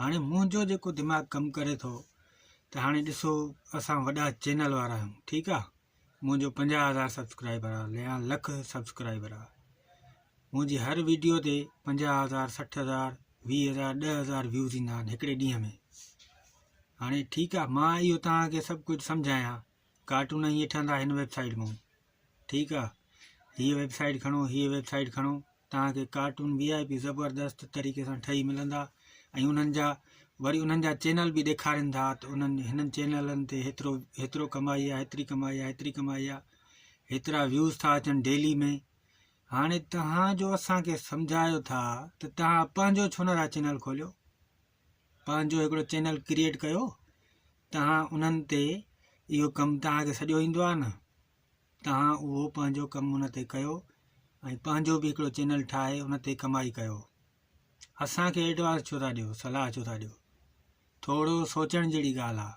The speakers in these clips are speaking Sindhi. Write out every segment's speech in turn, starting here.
هاڻي منهنجو جيڪو دماغ ڪم ڪري ٿو ته هاڻي ڏسو اسان وڏا چينل وارا آهيون ٺيڪ آهي منهنجو پنجاهه هزار سبسڪرائبر آهي يا لک سبسڪرائبر آهي منهنجي هر ويڊيو تي پنجاهه هزار سٺ هزار ويهه هزار ڏه هزار ويوز ايندا آهن هڪڙي ڏينهن ۾ هاڻي ٺيڪ آهي مان اهو توهان کي سڀ ڪجهه سمجهايان ڪارٽون ائين ٺهندا هن ويب سائيٽ مون ٺيڪ آ هيء ويب سائيٽ کڻو هيء ويب سائيٽ کڻو توهان کي ڪارٽون وي آء پي زبردست طريقي سان ٺهي ملندا ۽ انهن جا وري انهن جا چينل به ڏيکارين ٿا ته انهن هنن چينلن تي هيترو هيترو ڪمائي آ هيتري ڪمائي آ هيتري ڪمائي آ هيترا ويوز ٿا اچن ڊيلي ۾ هاڻي توهان جو اسان کي سمجهايو ٿا ته توهان پنهنجو ڇو نه ٿا چينل کوليو پنهنجو هڪڙو چينل ڪريئيٽ ڪيو تهان انهن تي اهو ڪم تهان کي سڄو ايندو آهي نه تهان اهو پنهنجو ڪم ان تي ڪيو ۽ پنهنجو به هڪڙو چينل ٺاهي ان تي ڪمائي ڪيو اسان کي ايڊوانس ڇو ٿا ڏيو صلاح ڇو ٿا ڏيو ٿورو سوچڻ جهڙي ڳالهه آهي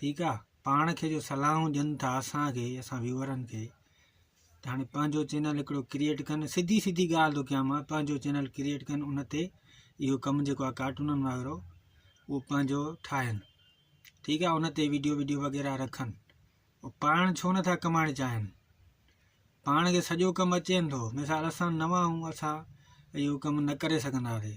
ٺيڪ آ پاڻ کي جو صلاحون ڏين ٿا اسان کي اسان ويورن کي ته هاڻي پنهنجو چينل هڪڙو ڪريئيٽ ڪن سڌي سڌي ڳالهه ٿو ڪيان مان پنهنجو چينل ڪريئيٽ ڪن ان تي اهو ڪم جيڪو آ ڪارٽونن وغيرو اهو پنهنجو ٺاهن ٺيڪ آ ان تي ويڊيو ويڊيو وغيره رکن او پاڻ ڇو نٿا ڪمائڻ چاهن پاڻ کي سڄو ڪم اچين ٿو مثال اسان نوان آهيون اسان اهو ڪم نه ڪري سگهنداسي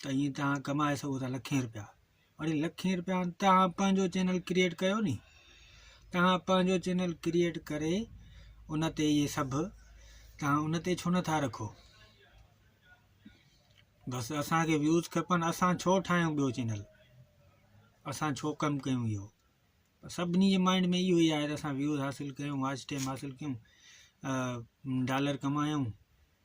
ته ائين توهان ڪمائي سگهو ٿا لکين روپيا وڙي لکين روپيا توهان پنهنجو چينل ڪريئيٽ ڪيو ني توهان پنهنجو چينل ڪريئيٽ ڪري ان تي اهي سڀ توهان ان تي ڇو نٿا رکو بس اسانکي ويوز کپن اسان ڇو ٺاهيون ٻيو چينل اسان ڇو ڪم ڪيون اهو سڀني جي مائنڊ ۾ اهو ئي آهي ته اسان ويوز حاصل ڪيون واچ ٽائم حاصل ڪيون ڊالر ڪمايون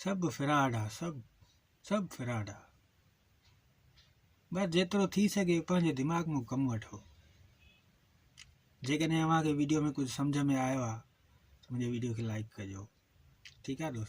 سڀ فراڊ آ سڀ سڀ فراڊ آ بس جيترو ٿي سگهي پنهنجي دماغ ۾ ڪم وٺو جيڪڏهن اوهان کي ويڊيو ۾ ڪجهه سمجهه ۾ آيو آ ته منهنجي ويڊيو کي لائڪ ڪجو ٺيڪ آ دوستو